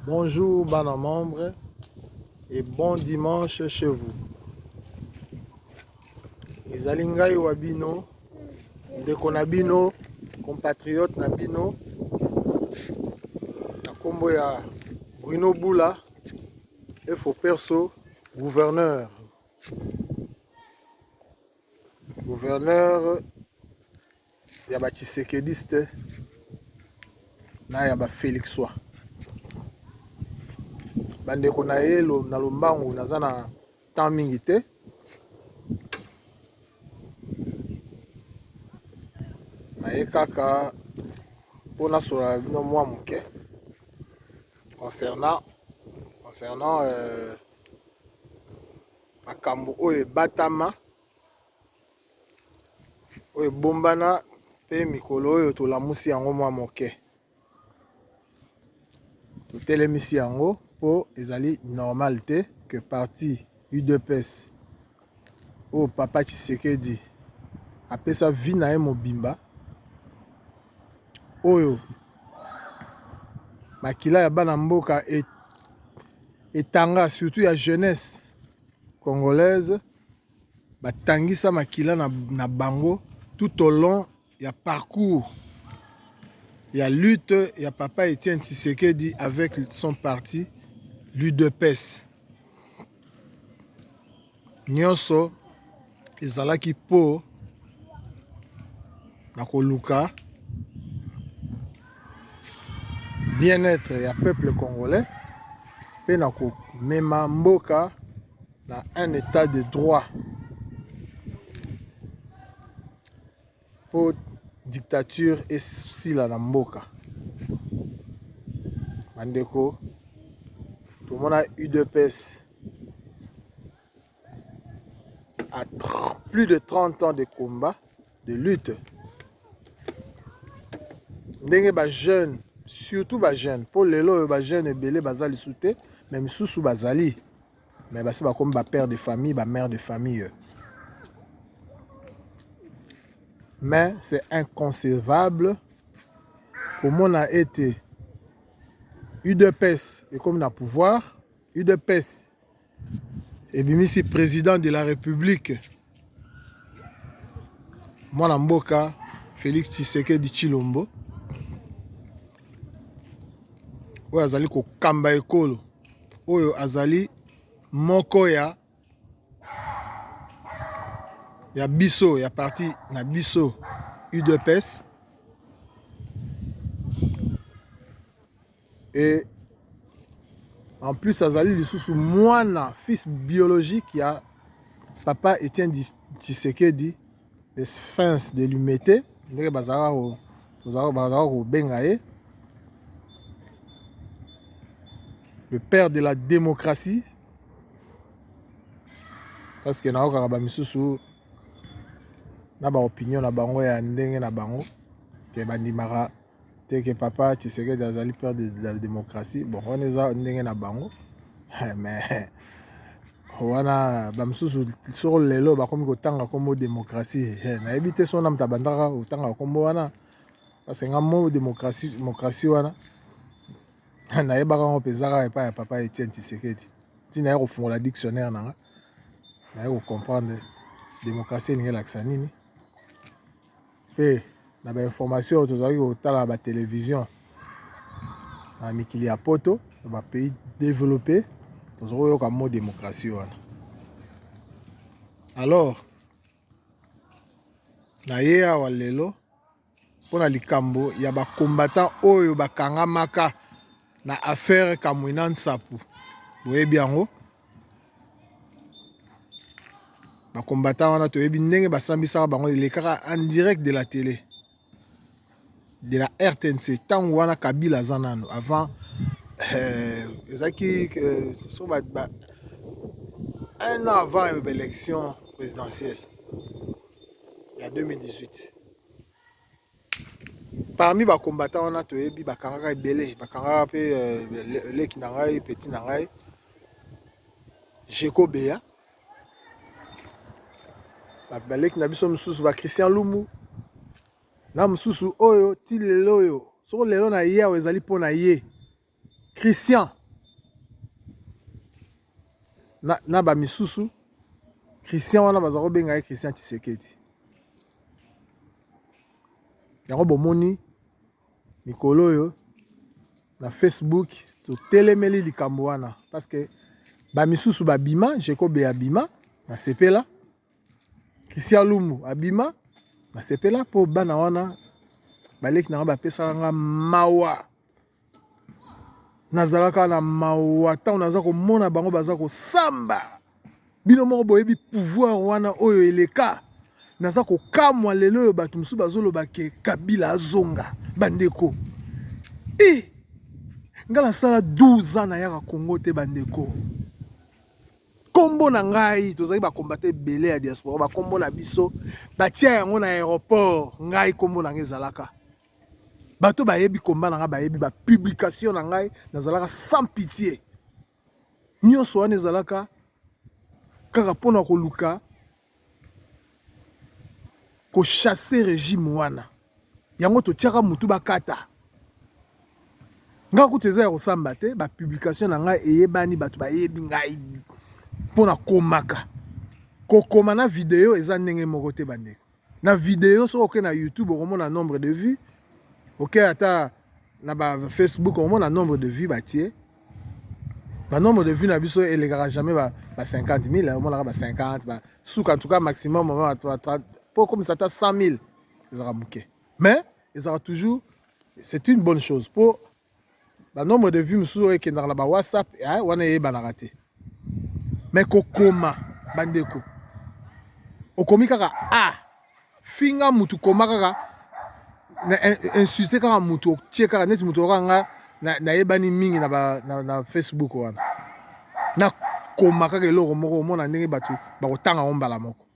Bonjour bana membre et bon dimanche chez vous. Ezali ngai wa bino ndeko na bino compatriote na bino na kombo ya Bruno Bula efo perso gouverneur gouverneur ya ba tshisekediste na ya ba felixois bandeko na ye na lombangu naza na temps mingi te naye kaka mpo nasola bino mwa moke concernant concernant euh, makambo oyo ebatama oyo ebombana pe mikolo oyo tolamusi yango mwa moke totelemisi yango po ezali normale te que parti udps oyo papa tshisekedi apesa vie na ye mobimba oyo makila ya bana mboka etanga surtout ya jeunesse congolaise ba tangisa makila na bango tout au long ya parcours ya lutte ya papa Etienne Tshisekedi avec son parti l'UDPS. Nionso ezalaki po na koluka bien-être ya peuple congolais mpe na komema mboka na un etat de droit mpo dictature esila na mboka bandeko tomona udps à plus de 30 ans de combat de lutte ndenge bajeune surtout bajeune mpo lelo oyo bajeune ebele baza lisu te me misusu bazali Mais basi bakomi ba père de famille, ba mère de famille. Mais c'est inconcevable komona ete udps ekomi na pouvoir udps ebimisi président de la république Mwana mboka felix tshisekedi tshilombo oyo azali kokamba ekolo oyo azali moko ya ya biso ya parti na biso udps et en plus azali lisusu mwana fils biologique ya papa Etienne Tshisekedi le sphinx de Limete ndenge bazalaka bazalaka kobenga ye le père de la démocratie parce que naokaka ba misusu na ba opinion na bango ya ndenge na bango ke bandimaka te que papa Tshisekedi azali père de la démocratie bon wana eza ndenge na bango eh, mais wana bamosusu soko lelo bakomi kotanga nkombo démocratie eh, nayebi te sona moto abandaka kotanga nkombo wana parce que nga mo démocratie démocratie wana nayebaka yango mpenza kaka epai ya papa Etienne Tshisekedi ntina ya kofungola dictionnaire na nga naye kocomprendre démocratie elingi elakisa nini mpe na ba informations oyo tozalaki kotala na ba television na mikili ya poto na ba pays developpe tozalaki koyoka mot démocratie wana alors na ye awa lelo mpo na likambo ya ba combattant oyo bakangamaka na affaire Kamuina Nsapu boyebi yango ba combattants wana toyebi ndenge basambisaka bango elekaka en direct de la tele de la rtnc ntango wana kabila aza nanu avant ezalaki un an avant ba election presidentielle ya 2018. Parmi ba combattants wana toyebi ba kangaka ebele ba kangaka pe leki na ngai petit na ngai Jeko Beya ba leki na biso mosusu ba Christian Lumu na mosusu oyo ti lelo oyo soki lelo na ye awa ezali mpo na ye Christian. na ba misusu Christian wana baza kobenga ye Christian Tshisekedi yango bomoni mikolo oyo na Facebook totelemeli likambo wana parce que ba misusu babima Jekobe abima na sepela Christian Lumbu abima na sepela mpo bana wana baleki na nga bapesaka nga mawa nazalaka na mawa ntango naza komona bango baza kosamba bino moko boyebi pouvoir wana oyo eleka naza kokamwa lelo oyo bato mosusu bazoloba ke kabila azonga bandeko e eh! ngai nasala 12 ans nayaka kongo te bandeko nkombo na ngai tozali bakombata ebele ya diaspora bakombo na biso batia yango na aéroport ngai nkombo na ngai ezalaka Bato bayebi combat na ngai bayebi ba publication na ngai nazalaka sans pitié nyonso wana ezalaka kaka mpo na koluka kochasse regime wana yango totyaka motu bakata ngai kutu eza ya kosamba te bapublikation na ngai eyebani bato bayebi ngai mpo na komaka kokoma na video eza ndenge moko te bandeko na video soki oke na youtube okomona nombre de vue oke ata na ba facebook okomona nombre de vue batie banombre de vue na biso elekaka jamais ba, ba 50 000 omonaka ba 50 ba suka en tout cas maximum mpo okomisa ata 100 000 ezalaka moke mais ezalaka toujours c'est une bonne chose mpo ba nombre de vues mosusu oyo ekendaka na ba whatsapp eh, wana eyebanaka te me kokoma bandeko okomi kaka a ah, finga mutu koma kaka na insulte kaka mutu otie kaka neti mutu okoka nga nayebani na mingi na, ba, na, na facebook wana nakoma kaka eloko moko omona ndenge bato bakotanga yango mbala moko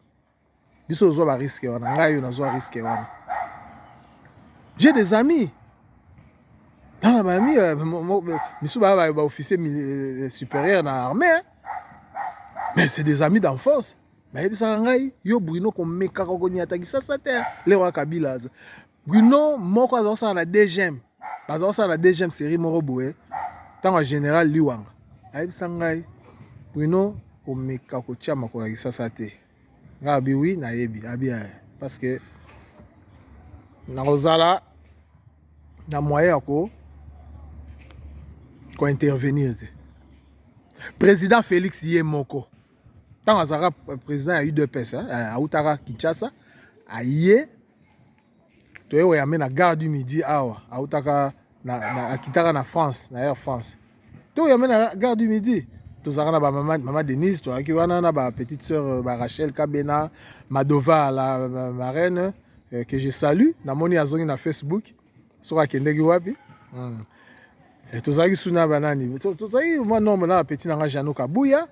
biso ozwa ba risque wana ngai yo nazwa risque wana j'ai des amis nana baami misu baya bayo baofficier euh, supérieur na armée hein? mais c'est des amis d'enfance bayebisaka ngai yo bruno komekaka okonyata kisasa te lero ya kabila aza Bruno moko aza kosala na deuxième baza kosala na deuxième série moko boye ntango ya général liwanga ayebisa ngai bruno komeka kotya makolo ya kisasa te ngai abi wi nayebi abi eh, parce que nakozala na moyen ya ko kointervenir te président félix ye moko ntango azalaka président ya udps autaka kinshasa aye toye oyambe na gare du midi awa autaka na, na, akitaka na france na air france to oyambe na gare du midi tozalaka na bamama mama denise toyaki wana na bapetite sœur euh, barachel kabena madova la euh, marraine euh, que je salue namoni azongi na facebook soki akendeki wapi hmm. eh, tozalaki su na banani tozalaki mwa nombre na bapeti na ngai jano kabuya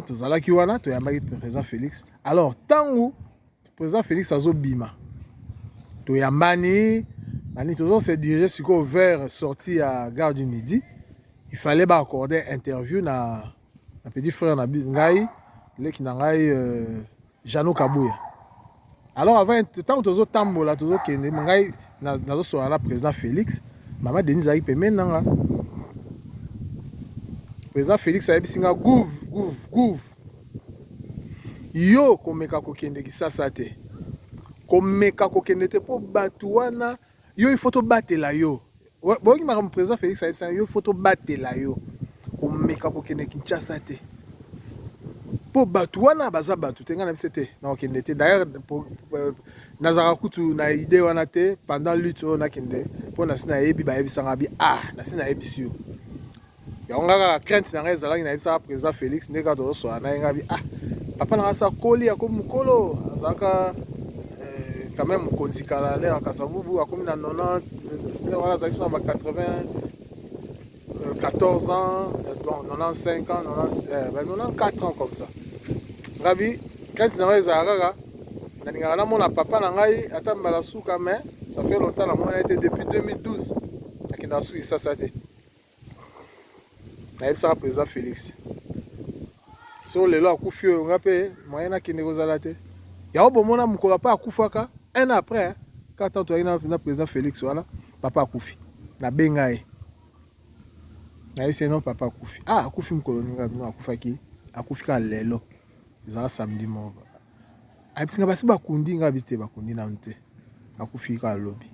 tozalaki wana toyambaki président félix alors ntango Président Félix azobima, toyambani nani, tozo se diriger sikoyo vers sortie ya gare du midi. Il fallait ba accorder interview na, na petit frère na ngai leki na ngai euh, Jeannot Kabuya. Alors avant ntango tozotambola tozokende ngai nazosola na président Félix, mama Denise azalaki pembeni na nga. Président Félix ayebisi nga gouv gouv gouv Yo komeka kokende kisasa te, komeka kokende te mpo bato wana yo il faut tobatela yo. Boyoki makambo président Félix ayebisaki yo, il faut tobatela yo, komeka kokende Kinshasa te mpo bato wana baza bato te. Ngai na biso te nakokende te, d'ailleurs euh, nazalaka kutu na idée wana te pendant lutte oyo nakende, mpo nasi nayebi bayebisanga bi ah nasi nayebisi yo yango nga kaka crainte na ngai ezalaki nayebisaka président félix nde kaka tozoswana na ye ngabi ah papa na ngai sakoli akomi mokolo azalaka eh, quand même mokonzi kala nde akasabubu akomi na 90 nde wana azalaki sona ba 80 14 ans, bon, 95 ans, 90, euh, ben 94 ans comme ça. Ngabi, quand tu n'avais Zahara, nalingaka namona papa na ngai ata mbala suka mais ça fait longtemps namona ye te depuis 2012 akenda suki sasa te nayebisaka président Félix so lelo akufi oyo nga mpe moyen nakende kozala te yango bomona mokolo apa akufaka un an après kaka ntango toyaki na président Félix wana papa akufi nabenga ye nayebisi ye non papa akufi ah akufi mokolo ninga bino akufaki akufi kaka lelo ezala samedi moko ayebisi nga basi bakundi nga bite bakundi nanu te akufi kaka lobi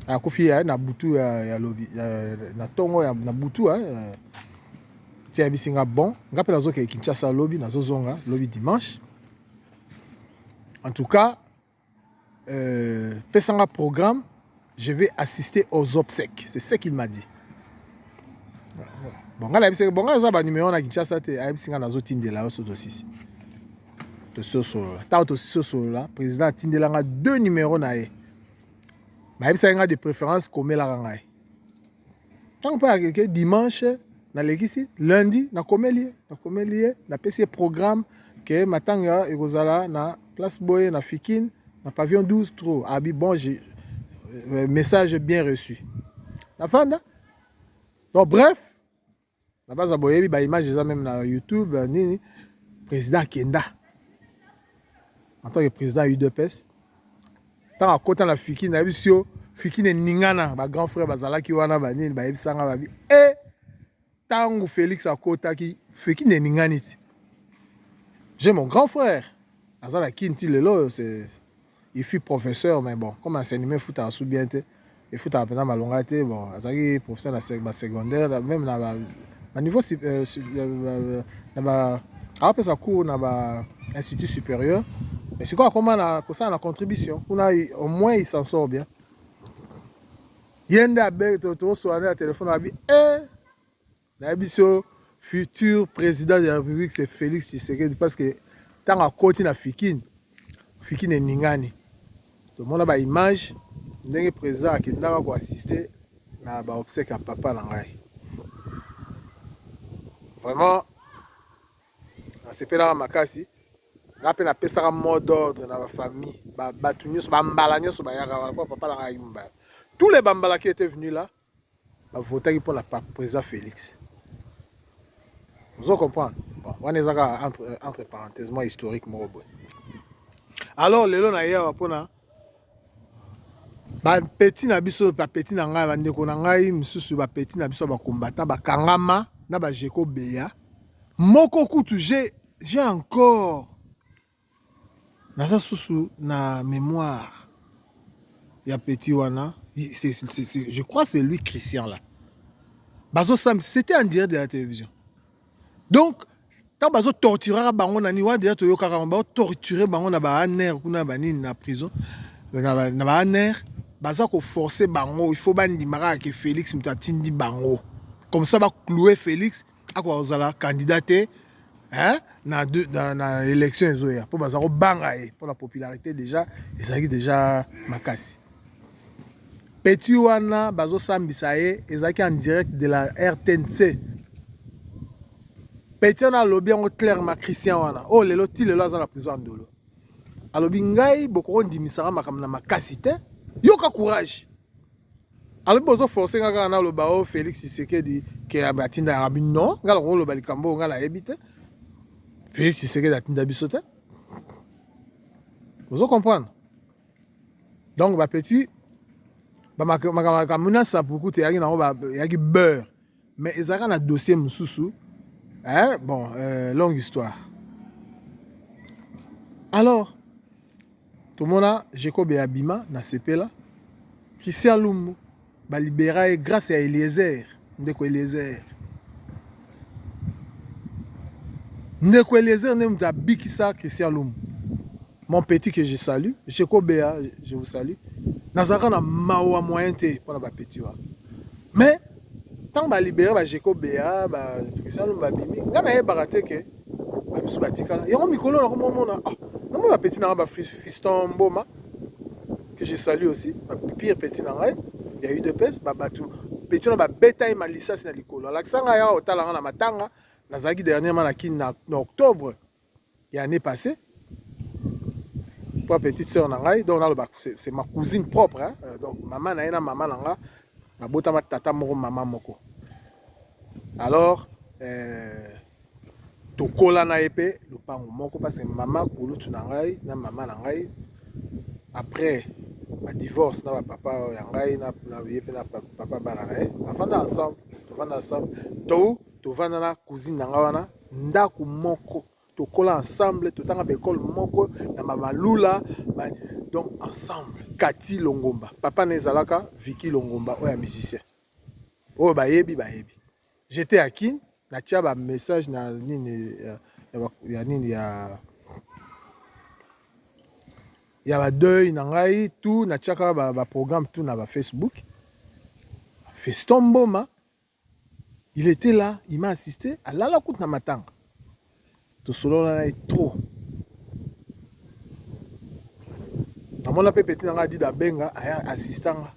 akufi ya na butu ya, ya lobi ya, na tongo ya, na butu ya, ya, ti ayebisi nga bon nga mpe nazokende kinshasa lobi nazozonga lobi dimanche en tout cas euh, pesanga programme je vais assister aux obsèques c'est ce qu'il m'a dit bon ngai nayebisaki bon ngai aza banimero na kinshasa te ayebisi ngai nazotindela yo so tosisi tosi osolola ntango tosisi osolola président atindela ngai deux numero na ye nayebisaki ngai de préférence komelaka ngai ntango mpe akeke dimanche nalekisi lundi nakomeli ye nakomeli ye napesi ye programme ke matanga ekozala na place boye na fikine na pavillon 12 trop abi bon euh, message bien reçu nafanda donc bref na baza boyebi ba image eza meme na youtube euh, nini président akenda en tant que président udps ntango akota na fiki nayebisi yo fiki neningana ba grand frère bazalaki wana banini bayebisanga babi e eh, ntango félix akotaki fiki neningani ti j'ai mon grand frère aza na kin ti lelo oyo Il fut professeur mais bon comme enseignement efutaka su bien te efutaka mpenza malonga te bon azalaki professeur na ba secondaire même na ba na niveau euh, euh, na ba apesa cours na ba institut supérieur mais sikoyo akoma na kosala na contribution kuna au moins il s'en sort bien ye nde abe tosoana na telefone abi e eh, Nayebisi yo futur president de la Republique c'est Felix Tshisekedi parce que ntango akoti na fikini fikini eningani tomona ba image ndenge président akendaka ko assister na ba obsèque ya papa na ngai vraiment nasepelaka makasi nga mpe napesaka mot d'ordre na bafamille bato nyonso bambala nyonso bayaka wana mpo papa na ngai ayaki mobala tous les bambalaki ete venu là ba votaki mpo na president Felix ozo comprendre bon wana eza kaka entre, euh, entre parenthèse mwa historique moko boye alors lelo na ye awa mpo na bapeti na biso bapeti na ngai bandeko na ngai mosusu bapeti na biso bakombata bakangama na bajeko beya moko kutu j'ai encore Naza susu na memoire ya petit wana je crois c'est lui Christian là bazo sam c'était en direct de la télévision donc tant bazo torturaka bango na nini wana deja toyokaka bango bao torture bango na ba aner kuna ba nini na prison na ba aner baza koforce bango il faut bandimaka ke Felix moto atindi bango comme ça ba cloue Felix akoka kozala candidat te hein? na, na, na élection ezoya mpo baza kobanga ye mpo na popularité déjà ezalaki déjà makasi petit wana bazosambisa ye ezalaki en direct de la rtnc petit wana alobi yango clairement christian wana oyo oh, lelo ti lelo aza na prison ya ndolo alobi ngai bokokondimisaka makambo na makasi te yoka courage alobi bozo force nga kaka naloba o oh, félix tshisekedi ke atinda yabi non nga nakoki koloba likambo oyo nga nayebi te félix tshisekedi atinda biso te ozo comprendre donc bapetit makambo na sapuku te eyaki nango eyaki beurre Mais ezalaka na dossier mosusu eh, bon euh, longue histoire alors tomona Jacobe abima na sepela Christian Lumbu balibera ye grâce ya Eliezer ndeko Eliezer ndeko Eliezer nde moto abikisa Christian Lumbu mon petit que je salue Jacobe je vous salue nazalaka na mawa moyen te mpo na bapeti wana mais Tango ba libere ba Geco Bea ba Salum ba bimi nga na yebaka te ke ba misu ba tikala yango mikolo na komo mona ah na mona petit na nga ba fiston mboma que je salue aussi ba pire petit na ngai ya udps ba batu petit na ba beta ye malisasi na likolo alakisa nga ya otala nga na matanga nazalaki dernièrement na kin na, na octobre ya année passée toi petite sœur na ngai donc naloba c'est ma cousine propre hein? Euh, donc mama na ye na mama na nga babotama tata moko mama moko alors euh, tokola na ye mpe lopango moko parce que mama kulutu na ngai na mama na ngai après badivorce na bapapa ya ngai na ye mpe na papa bana na ye bafanda ensemble tofanda ensemble to tovanda na cousine na nga wana ndako moko tokola ensemble totanga baekole moko na bamalula ba, donc ensemble kati longomba papa na ezalaka viki longomba oyo ya musicien oyo bayebi bayebi jete ya kin natya bamessage na nini ya, ya, ya nini ya ya badeuil na ngai tout natyaka baprogramme ba tout na bafacebook feston mboma Il etait là, il m'a assisté, alala kutu na matanga. Tosolola na ye trop. Namona mpe petit na ngai Adida Benga aya assista nga.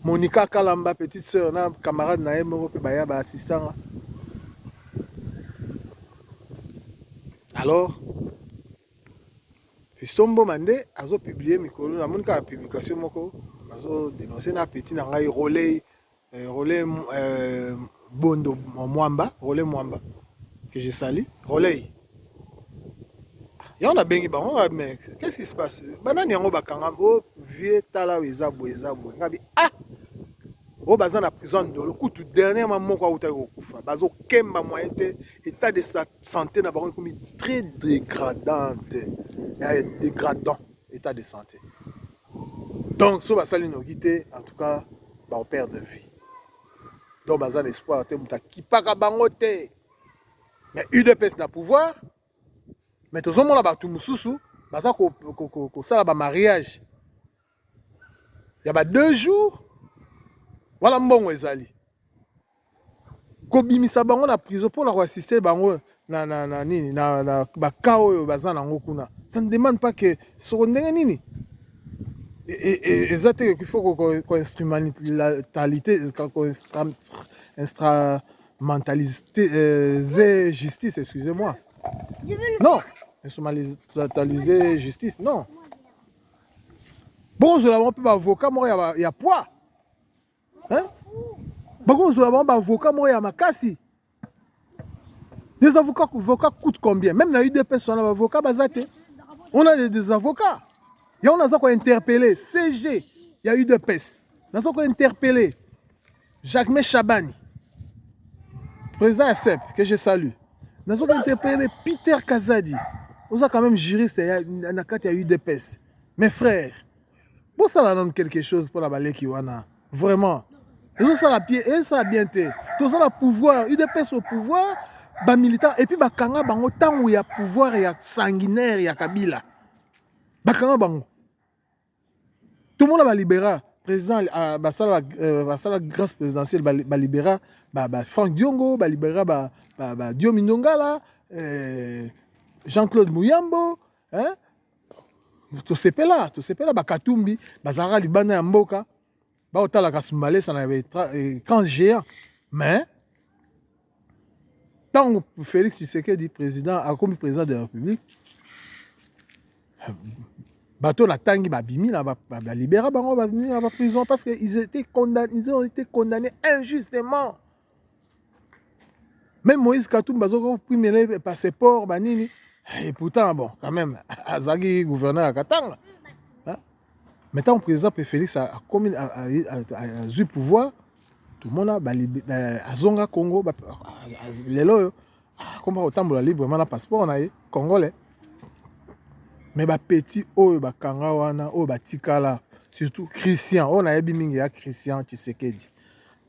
Monica Kalamba, petite sœur na camarade na ye moko mpe baya ba assista nga. Alors, Fisombo Mande azo publier mikolo, namoni kaka publication moko azo denoncer na petit na ngai Rolei Euh, Roley euh, Bondo Mwamba, Roley Mwamba, que je salue. Roley. yango nabengi bango ah, mais qu'est-ce qui se passe banani yango bakanga o oh, vieux tala oyo eza boye eza boye ngabi ah oyo oh, baza na prison ndolo kutu dernièrement moko autaki kokufa bazokemba moye te état de sa santé na bango ekomi très dégradante eh, dégradant état de santé Donc soki basali noki te en tout cas bao perdre vie. Donc baza na espoir te moto akipaka bango te. Mais UDPS na pouvoir mais tozomona bato mosusu baza kosala ba mariage ya ba deux jours wana mbongo ezali kobimisa bango na prison pona ko assister bango na na na nini na, na ba cas oyo baza nango kuna ça ne demande pas que soko ndenge nini e, e, e, eza te qu'il faut ko instrumentalite ko instrumentalise euh, justice excusez-moi non instrumentaliser justice non bozwela bango mpe baavocat moko ya, ya poids hein? bakozwa bango baavoka moko ya makasi des avocats avocat coûte combien même na udps wana baavoka baza te on a des avocats yango naza kointerpele cg ya udps naza kointerpele jacquemain chabani président ya sep que je salue naza kointerpele peter kazadi oza quand même juriste na kati ya udps mes frères bosala nanu quelque chose mpo na baleki wana vraiment ezosala pie ezosala bien te toza na pouvoir udps au pouvoir bamilitant epuis bakanga bango ntango ya pouvoir ya sanguinaire ya kabila bakanga bango tomona balibera président euh, basala euh, basala grâce présidentielle balibera ba, ba frank diongo balibera ba, ba, ba diomi ndongala euh, jean claude muyambo hein tosepela tosepela bakatumbi bazalaka libanda ya mboka baotalaka smalesa na écran géant mais ntango félix tshisekedi président akomi président de la république bato natangi babimi na balibera bango babimi na baprison parce que ils étaient condamnés, ils ont été condamnés injustement Même Moïse Katumbi bazoko primele passeport ba nini et pourtant bon quand même azaki gouverneur ya Katanga hein? mais tant président pe Félix a komi azui pouvoir tomona azonga Congo lelo oyo akoma kotambola librement na passeport na ye congolais mais ba petit oyo bakanga wana oyo batikala surtout Christian oyo nayebi mingi ya Christian Tshisekedi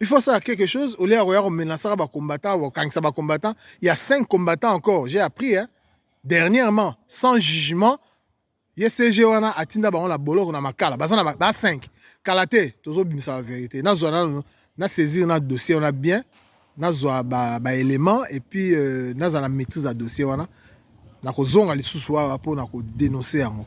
il faut ça quelque chose au lieu ya koya komenasaka bacombattant kokangisa bacombattant ya 5 combattant encore j'ai appris hein? dernièrement sans jugement ye cg wana atinda bango na boloko na makala baza na ba 5 kala te tozobimisa ba verité nazwa nano na saisir na dossier wana bien nazwa ba, ba élément et puis euh, nazala na maîtrise ya dossier wana nakozonga lisusu awa mpo na kodenonse yango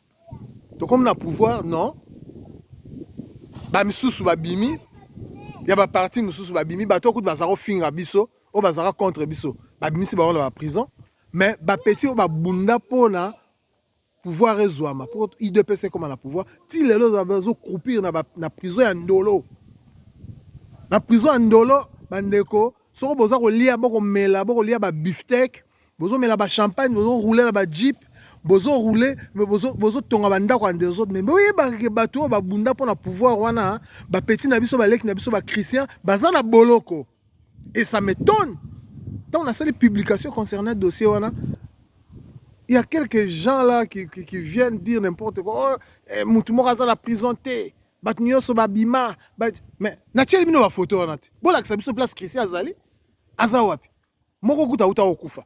tokomi na pouvoir non bamisusu babimi ya baparti mosusu babimi bato oyo kutu bazala kofinga biso oyo bazalaka contre biso babimisi bango na baprison mais bapeti oyo babunda mpona pouvoir ezwama mpo idps ekoma na pouvoir ti lelo bazokroupir na, na prison ya ndolo na prison ya ndolo bandeko soko boza kolia bokomela bokolia babiftek bozo mela ba champagne bozo rouler na ba jeep bozo rouler mais bozo bozo tonga ba ndako ya ndezo mais boyeba ke bato oyo babunda mpo na pouvoir wana ba petit na biso baleki na biso ba christian baza na boloko et ça m'étonne ntango nasali publication concernant dossier wana il y a quelques gens là qui, qui, qui viennent dire n'importe quoi oh, eh, mutu moko aza na prison te bato nyonso babima ba... mais natieli bino bafoto wana te bolakisa biso place christian azali aza wapi moko kuta uta kokufa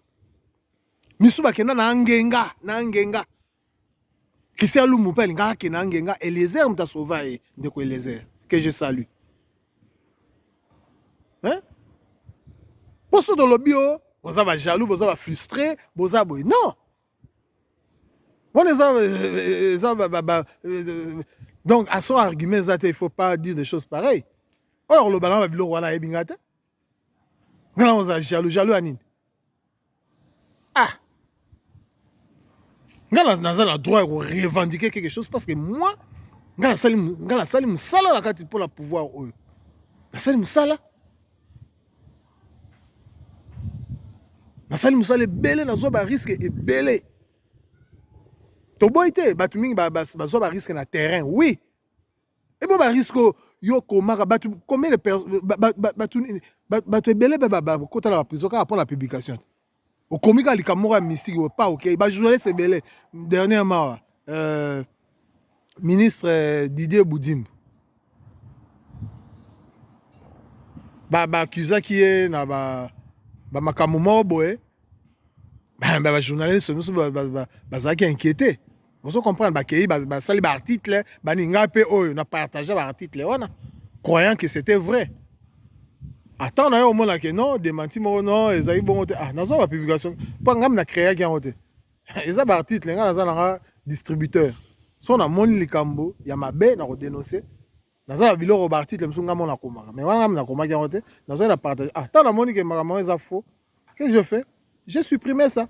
misu bakenda na angenga na angenga christian lumbu mpe alingaka akenda angenga eliezer moto asova ye ndeko eliezer que je salue hein? mpo so tolobi o boza bajaloux boza bafrustre boza boye non wana eza euh, eza euh, donc aso argument eza te il faut pas dire des choses pareil oyo olobaka na babiloko wana ayebi ngai te ngana oza jaloux jaloux ya nini ah nga naza na droit ya korevendiquer quelque chose parce que moi nga nasali nga nasali mosala na kati mpo na pouvoir oyo nasali mosala nasali mosala ebele nazwa bariske ebele toboyi te bato mingi bazwa bariske na terrain oui ebo ba risque yo komaka batu combien de personnes batu batu ebele ba ba ba kota na ba prison kaka pona publication okomi kaka likambo moko ya mystique oyo pa okei ba journaliste ebele dernièrement euh, ministre euh, Didier Boudimbo ba ba accusaki ye na ba ba makambo moko boye ba ba journaliste mosusu bazalaki inquiété Vous comprenez, bakei basali ba article bani ngai mpe oyo na partage ba article wana croyant que c'était vrai ata na yo omonake non demanti moko non ezali bongo te ah nazwa bapublication mpo ngami na créaki yango te eza baarticle ngai naza nanga distributeur so namoni likambo ya mabe na kodenonse naza na biloko ba article mosusu ngai moko nakomaka mais wana ngai nakomaki yango te nazwaki na partage ah ntango namoni ke makambo yango eza faux que je fais je supprime ça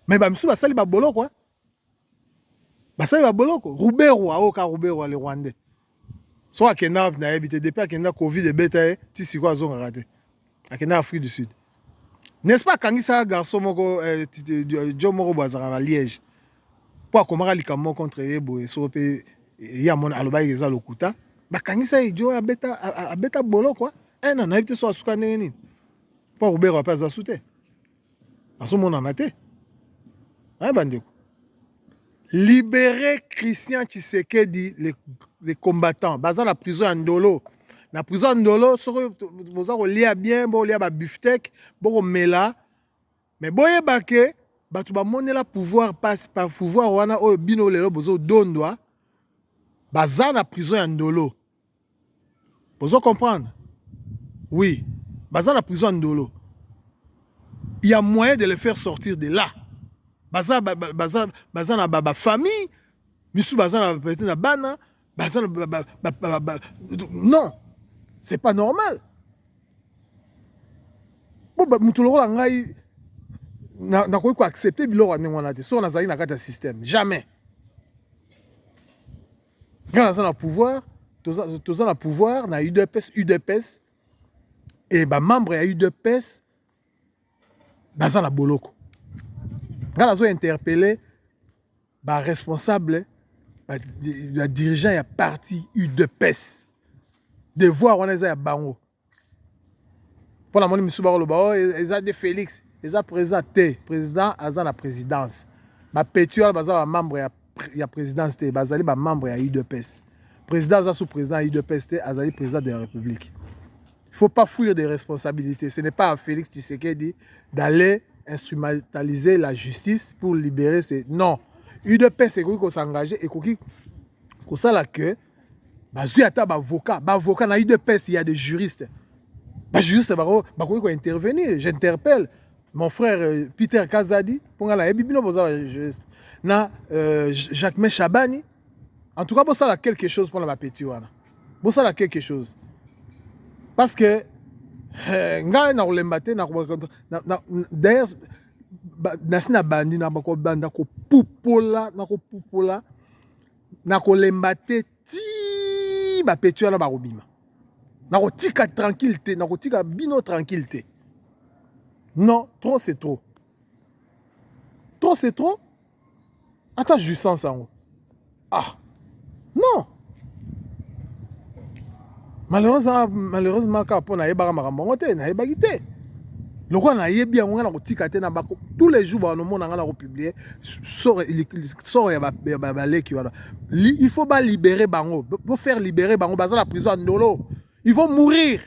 mais bamisusu basali baboloko basali baboloko ruberwa oyo ka ruberwa le rwandais so akenda wapi nayebi te depuis akenda covid ebeta ye ti sikoyo azongaka te akenda afrique du sud n'est-ce pas akangisaka garçon moko eh, jo moko boye azalaka na liège mpo akomaka likambo moko contre ye boye soko mpe ye amona alobaki eza lokuta bakangisa ye jo abeta, abeta bolo kua eh, ena nayebi te so asuka ndenge nini mpo akobeka mpe aza su te bazomonana te hein, bandeko libere christian tshisekedi le, le combattant baza na prison ya ndolo na prison ya ndolo soki boza kolia bien bolia babiftek bokomela me boyeba ke bato bamonela pouvoir pasi pa pouvoir wana oyo bino lelo bozodondwa baza na prison ya ndolo Ozo comprendre? Oui, baza na prison ya Ndolo. Il y a moyen de les faire sortir de là. Baza baza baza na ba famille, misu baza na peut-être na bana, baza na ba, ba, ba, ba, non. C'est pas normal. Bon, ba, mutu lokola ngai nakoki ko accepter biloko ya ndenge wana te soki nazali na kati ya système jamais nga naza na pouvoir toza, toza na pouvoir na udps udps e bamembre ya udps baza na boloko nga nazo interpele baresponsable badirigeant ya parti udps devoir wana eza ya bango mpo namoni misusu bakoloba o oh, e-, eza de félix eza président te président aza na présidence bapeti wana baza bamembre ya, ya présidence te bazali bamembre ya udps président aza sous président ya udps te azali président de la république il faut pas fuir des responsabilités ce n'est pas à félix tshisekedi d'aller instrumentaliser la justice pour libérer ses non udps ekoki kosengager ekoki kosala que bazwi ata bavocat bavocat na udps ya de juriste bajuriste bakoki kointervenir j'interpelle mon frère euh, peter kazadi mpo ngai nayebi bino boza bajuriste na euh, jacquemain chabani en tout cas bosala quelque chose mpona bapeti wana bosala quelque chose parce que eh, ngai nakolemba te d'ailleurs nasi na bandi na bakobanda kopupola na kopupola nakolemba te ti bapeti wana bakobima nakotika tranquille te nakotika bino tranquille te non trop c'est trop trop c'est trop ata jouissance yango ah non malheureusement malheureusement kaka mpo nayebaka makambo yango te nayebaki te lokola nayebi yango ngai nakotika te na bako tous les jours banomona ngai nakopublie sort ya baleki wana il faut balibere bango bofaire libere bango baza na prison ya ndolo ils vont mourir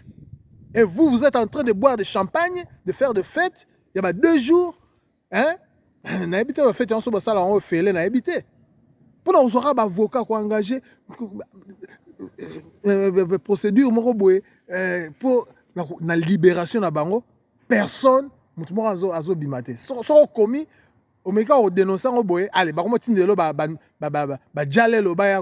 et vous vous êtes en train de boire de champagne de faire de fête ya ba deux jours hein nayebi te bafete nyonso basala yango ofele nayebi te mpo na kozwaka baavoka koengage procédure moko boye mpo eh, na libération na bango personne moto moko azobima te soki okomi omeki kodenonse yango boye ale bakomi otindelo bajalelo baya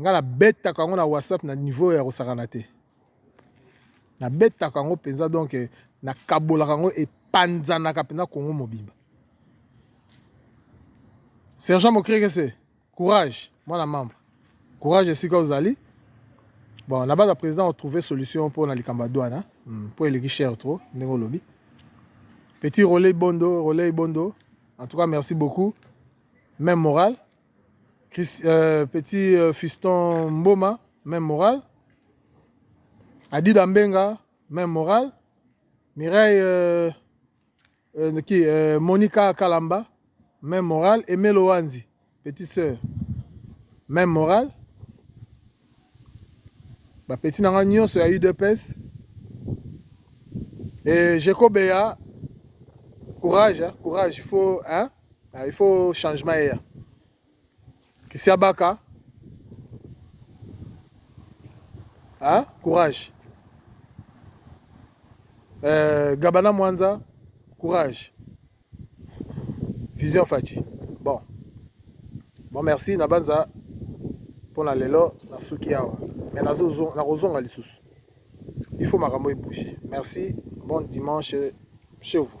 Nga na betaka yango na WhatsApp na niveau ya kosakana te. Na betaka yango penza donc na kabolaka yango epanzanaka penza Congo mobimba. Sergent Mokrekese, courage mwana membre. Courage esika ozali. Bon, na bana président on trouver solution pour na likamba douane, hein? Hmm, pour eleki cher trop ndenge olobi. Petit relais bondo, relais bondo. En tout cas, merci beaucoup. Même morale. Chris, euh, petit euh, fiston mboma même morale adida mbenga même morale mireille euh, euh, qui, euh, monica kalamba même morale emelo wanzi petite sœur même morale bapeti na ngai nyonso ya udps e jekobeya courage courage faut hein? Ah, il faut changement eya kisiabaka hein? courage euh, gabana mwanza courage vision faci bon bon merci na banza mpo na lelo nasuki awa me nakozonga lisusu il faut makambo ebouge merci bon dimanche chez vous